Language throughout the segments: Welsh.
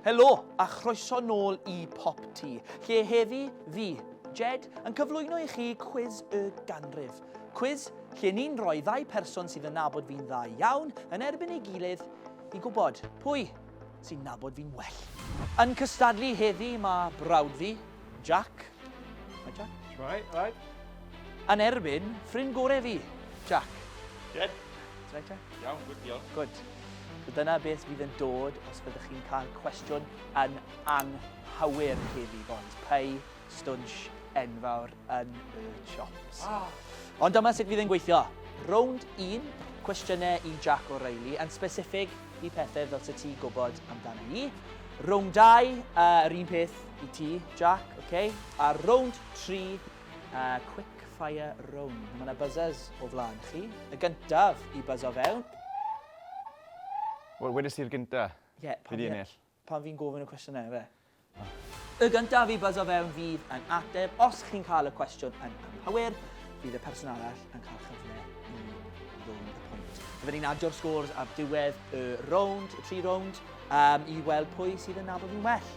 Helo, a chroeso nôl i Pop Ti, lle heddi fi, Jed, yn cyflwyno i chi Cwis y Ganrif. Cwis lle ni'n rhoi ddau person sydd yn nabod fi'n dda iawn yn erbyn ei gilydd i gwybod pwy sy'n nabod fi'n well. Yn cystadlu heddi mae brawd fi, Jack, Hi Jack. Right, right. Yn erbyn ffrind gore fi, Jack. Good. Ti'n rhaid, Jack? Iawn, good deal. Good. So dyna beth fydd yn dod os byddwch chi'n cael cwestiwn yn anghywir heddi, boys. Pei stwnsh enfawr yn y chops. Ah. Ond dyma sut fydd yn gweithio. Rownd 1, cwestiynau i Jack O'Reilly, yn specific i pethau fel sy'n ti gwybod amdano ni. Rownd 2, uh, yr un peth, I ti, Jack, ok. A rownd tri, uh, quick fire rownd. Mae yna buzzers o flaen chi. Y gyntaf i buzzo fewn. Wel, wedys i'r gyntaf. Ie, yeah, pan, fi, pan fi'n gofyn y cwestiynau, fe. Y gyntaf i buzzo fewn fydd yn ateb. Os chi'n cael y cwestiwn yn anghywir, bydd y person arall yn cael chyfle i rownd y pwynt. Byddwn ni'n adio'r scores ar diwedd y rownd, y tri rownd, um, i weld pwy sydd yn nabod nhw'n well.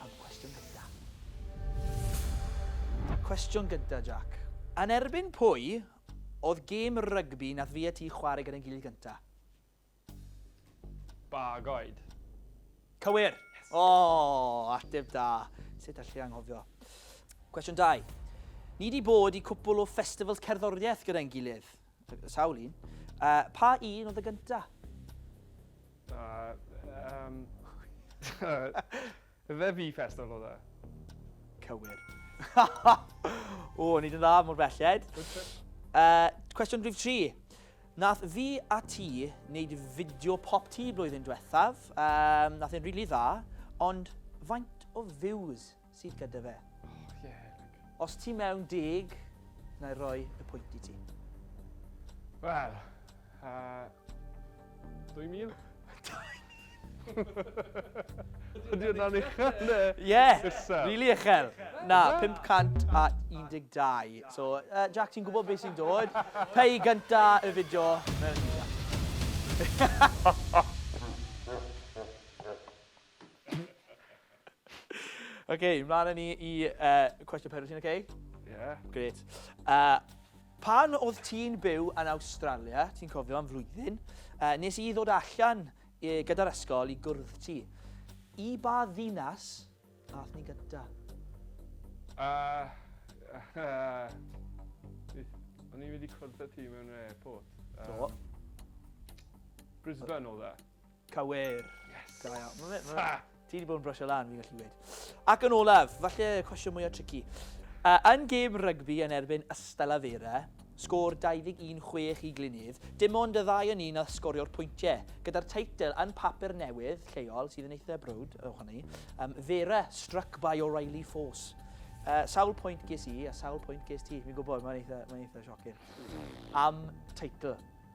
am cwestiwn gynta. Cwestiwn gynta, Jac. Yn erbyn pwy oedd gêm rygbi nath fi a ti chwarae gyda'n gilydd gynta? Bagoed. Cywir! O, ateb da. Sut allai anghofio? Cwestiwn 2. Ni di bod i cwpwl o festivals cerddoriaeth gyda'n gilydd. Sawl un? Uh, pa un oedd y gynta? Uh, um, fe fi festival oedd e? Cywir. o, ni dyn dda mor belled. Uh, cwestiwn rhif 3. Nath fi a ti wneud fideo pop ti blwyddyn diwethaf. Um, nath e'n rili really dda, ond faint o views sydd gyda fe. Oh, yeah. Os ti mewn deg, na i roi y pwynt i ti. Wel, uh, 2000? Ydy hwnna'n uchel ne? Ie, rili uchel. Na, 512. So, uh, Jack, ti'n gwybod beth sy'n dod? Pei gynta y fideo. Mewn i Jack. Oce, mlaen â ni i uh, cwestiwn pedwar, ti'n oce? Okay? Ie. Yeah. Gret. Uh, pan oedd ti'n byw yn Awstralia, ti'n cofio am flwyddyn, uh, nes i ddod allan e, gyda'r ysgol i gwrdd ti. I ba ddinas ath ni gyda? Uh, uh, o'n i wedi cwrdd ti mewn airport. Um, Do. Brisbane oedd e. Cywir. Yes. Da iawn. Ma fe, ma fe, ti wedi bod yn brysio lan, fi'n gallu dweud. Ac yn olaf, falle cwestiwn mwyaf tricky. Uh, yn gêm rygbi yn erbyn Ystela Fera, sgôr 21-6 i Glynydd, dim ond y ddau yn un a sgorio'r pwyntiau, gyda'r teitl yn papur newydd lleol, sydd yn eitha brwd, ewch ni, um, Fera struck by O'Reilly Force. Uh, sawl pwynt ges i a sawl pwynt ges ti, fi'n gwybod, mae'n eitha, mae eitha siocyn. Am teitl.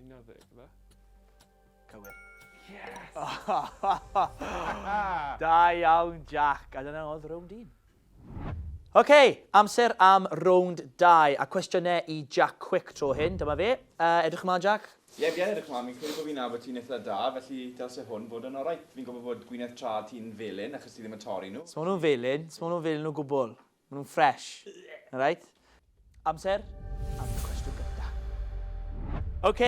11, fe? Cywir. Yes! da iawn, Jack. A dyna oedd rownd un. Oce, okay, amser am rownd 2 a cwestiynau i Jack Quick tro hyn. Dyma fe. Uh, edrych ymlaen, Jack? Ie, yeah, ie, yeah, edrych ymlaen. Mi'n credu bod fi'n nabod ti'n eitha da, felly dylse hwn fod yn orau. Fi'n gwybod bod gwyneth tra ti'n felyn, achos ti ddim yn torri nhw. Smawn nhw'n felyn, smawn nhw'n felyn o gwbl. Maen nhw'n ffresh. Na right? Amser am y cwestiwn gynta. Ok,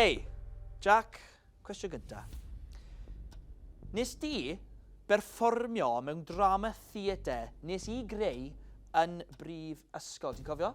Jac, cwestiwn gynta. Nes di berfformio mewn drama theatre nes i greu yn brif ysgol, ti'n cofio?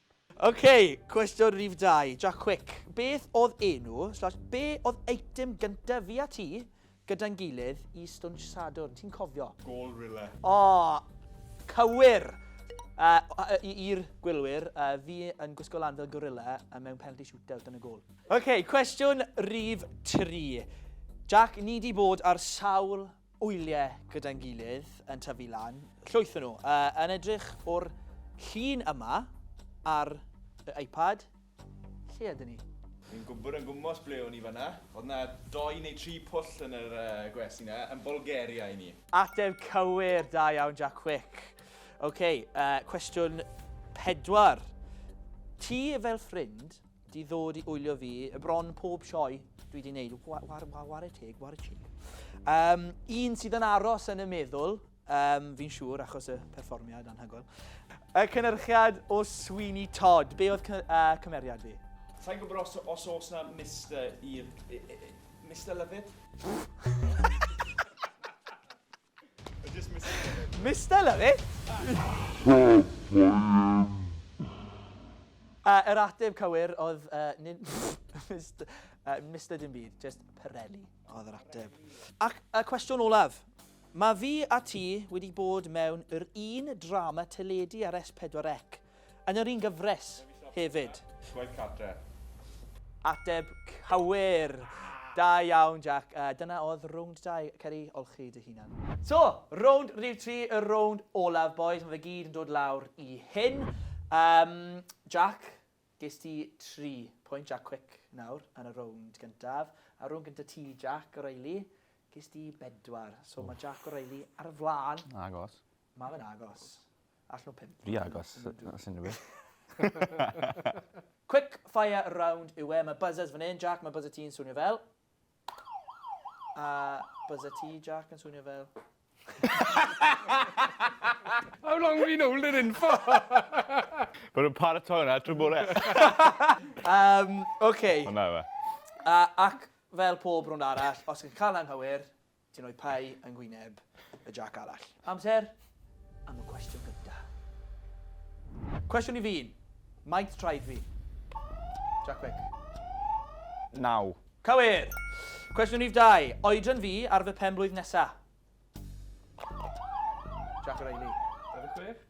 Ok, cwestiwn rhif dau, Jac Cwic. Beth oedd enw, slash, be oedd eitem gyntaf fi a ti gyda'n gilydd i Stwnsh Sadwrn? Ti'n cofio? Gôl Rille. O! Cywir! Yy, i'r gwylwyr, yy, fi yn gwisgo lan fel gorilla yy, mewn penalty shootout yn y gôl. Ok, cwestiwn rhif tri, Jac, ni di bod ar sawl wyliau gyda'n gilydd yn tyfu lan. Llwyth nhw. Uh, yn edrych o'r llun yma ar y iPad, lle ydyn ni? Ni'n gwybod yn gwmwys ble o'n i fanna. Oedd na doi neu tri pwll yn yr uh, gwersi na, yn Bulgaria i ni. Ateb cywir, da iawn Jack Quick. OK, uh, cwestiwn pedwar. Ti fel ffrind Di ddod i wylio fi, bron pob sioe dwi di wneud. Wa, wa, wa, ware teg, ware teg. Um, un sydd yn aros yn y meddwl, um, fi'n siŵr, achos y perfformiad anhygoel. Y cynnyrchiad o Sweeney Todd. Be oedd uh, cymeriad fi? Sa'n gwybod os, os oes na Mr. i'r... Mr. Lovett? Mister Lovett? A yr ateb cywir oedd uh, nid Mister, uh, Mister dim byd, just Pirelli oedd yr ateb. Ac y cwestiwn olaf. Mae fi a ti wedi bod mewn yr un drama teledu ar S4C Yn yr un gyfres hefyd. Gwaith cartre. Ateb cywir! Da iawn Jac. A dyna oedd rownd dau. Cer i olchi dy hunan. So, rownd rhif tri, y rownd olaf bois. Mae fe gyd yn dod lawr i hyn. Yym, Jac, ges ti tri pwynt, Jac Cwic nawr, yn y rownd gyntaf. A rownd gyntaf ti, Jac O'Reilly, ges ti bedwar. So, mae Jac O'Reilly ar y flaen. Agos. Mae fe'n agos. Allan o pump. Rhy agos os unrhyw beth. Quick fire round yw e. Mae buzzers fan hyn. Jac, mae buzzer ti'n swnio fel. A buzzer ti, Jac, yn swnio fel. How long have you known it in for? Mae nhw'n paratoi hwnna trwy bore. um, OK. Hwna yma. Uh, ac fel pob rhwnd arall, os ydych chi'n cael anghywir, Ti'n rhoi pie yng nghwyneb y Jac arall. Amser am y cwestiwn gyntaf. Cwestiwn i fi un. Maint traed fi? Jac Vic. Naw. Cywir! Cwestiwn rhif dau. Oedran fi ar fy pen-blwydd nesa? Jac O'Reilly. David Gruff.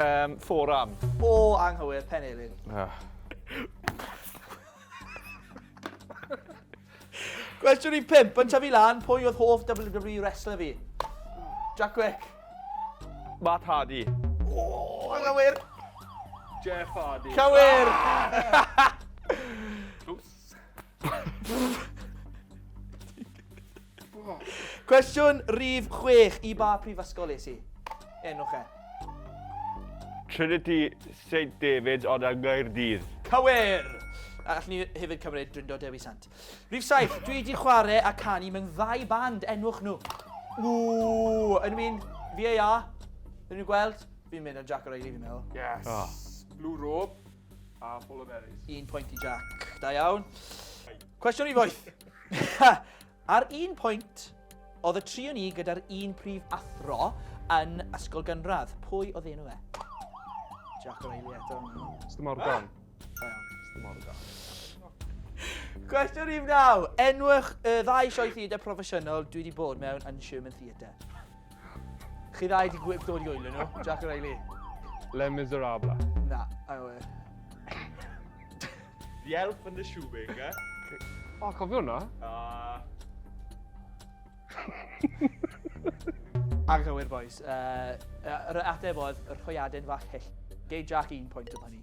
um, forearm. O, anghywir, pen eirin. Ah. Cwestiwn i pimp, yn tyfu lan, pwy oedd hoff WWE wrestler fi? Jack Wick. Matt Hardy. O, oh, anghywir. Jeff Hardy. Cywir! Ah! Cwestiwn rhif 6 i ba prifysgol es i? Enwch e. Trinity St David ond yng Nghaerdydd. Cywir! A allwn ni hefyd cymryd Drindo Dewi Sant. Rhif 7, dwi wedi chwarae a canu mewn ddau band, enwch nhw. Ww, yn un VAR, yn ni'n gweld, fi'n mynd yn Jack O'Reilly fi'n meddwl. Yes. Oh. Blue Robe. A Paul O'Merys. Un pwynt i Jack. Da iawn. Cwestiwn i foeth. Ar un pwynt, oedd y tri o ni gyda'r un prif athro yn ysgol gynradd. Pwy oedd enw e? Jack O'Reilly eto. Mr Morgan. Da iawn. Mr Morgan. Cwestiwn i wnaw. Enwch y ddau sioe theatre proffesiynol dwi wedi bod mewn yn Sherman Theatre. Chi ddau wedi gwybod dod i oelio nhw, Jack a Riley? Les Miserables. Na, I know it. The Elf and the Shoemaker. O, oh, cofio hwnna? Uh... Anghywir, boys. Uh, yr ateb oedd yr hwyaden fach hyll. Gei Jack un pwynt am hynny.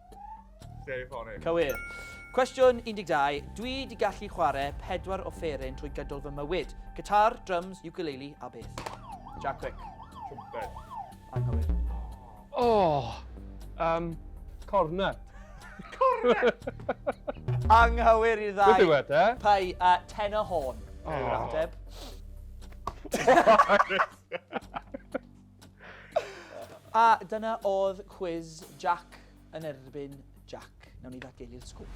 Very funny. Cywir. Cwestiwn 12. Dwi di gallu chwarae pedwar offeryn trwy gydol fy mywyd. Guitar, drums, ukulele a beth. Jack Quick. Trumpet. Anghywir. Oh! Um, cornet. cornet! Anghywir i'r ddau. Beth yw e, de? Pai a ten o hôn. Oh. Ateb. A dyna oedd cwiz Jac yn erbyn Jac. Nawn ni ddatgelu'r sgwr.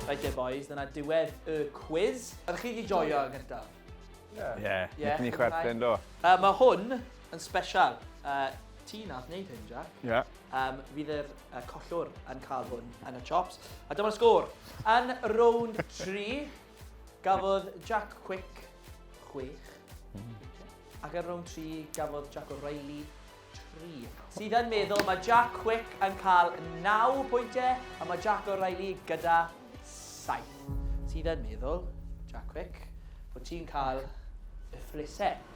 Right there boys, dyna diwedd y cwiz. Ydych chi wedi joio yn gyntaf? Ie. Ie. Nethon ni chwerthin do? Uh, mae hwn yn special. Uh, ti nath wneud hyn, Jac. Ie. Yeah. Um, fydd yr uh, collwr yn cael hwn yn y chops. A dyma'r sgôr. Yn rownd 3, Gafodd Jack Quick chwech wiced, ac ar rownd tri, gafodd Jack O'Reilly tri. Sydd yn meddwl, mae Jack Quick yn cael naw pwyntiau, a mae Jack O'Reilly gyda saith. Sydd yn meddwl, Jack Quick, bod ti'n cael y ffrisau.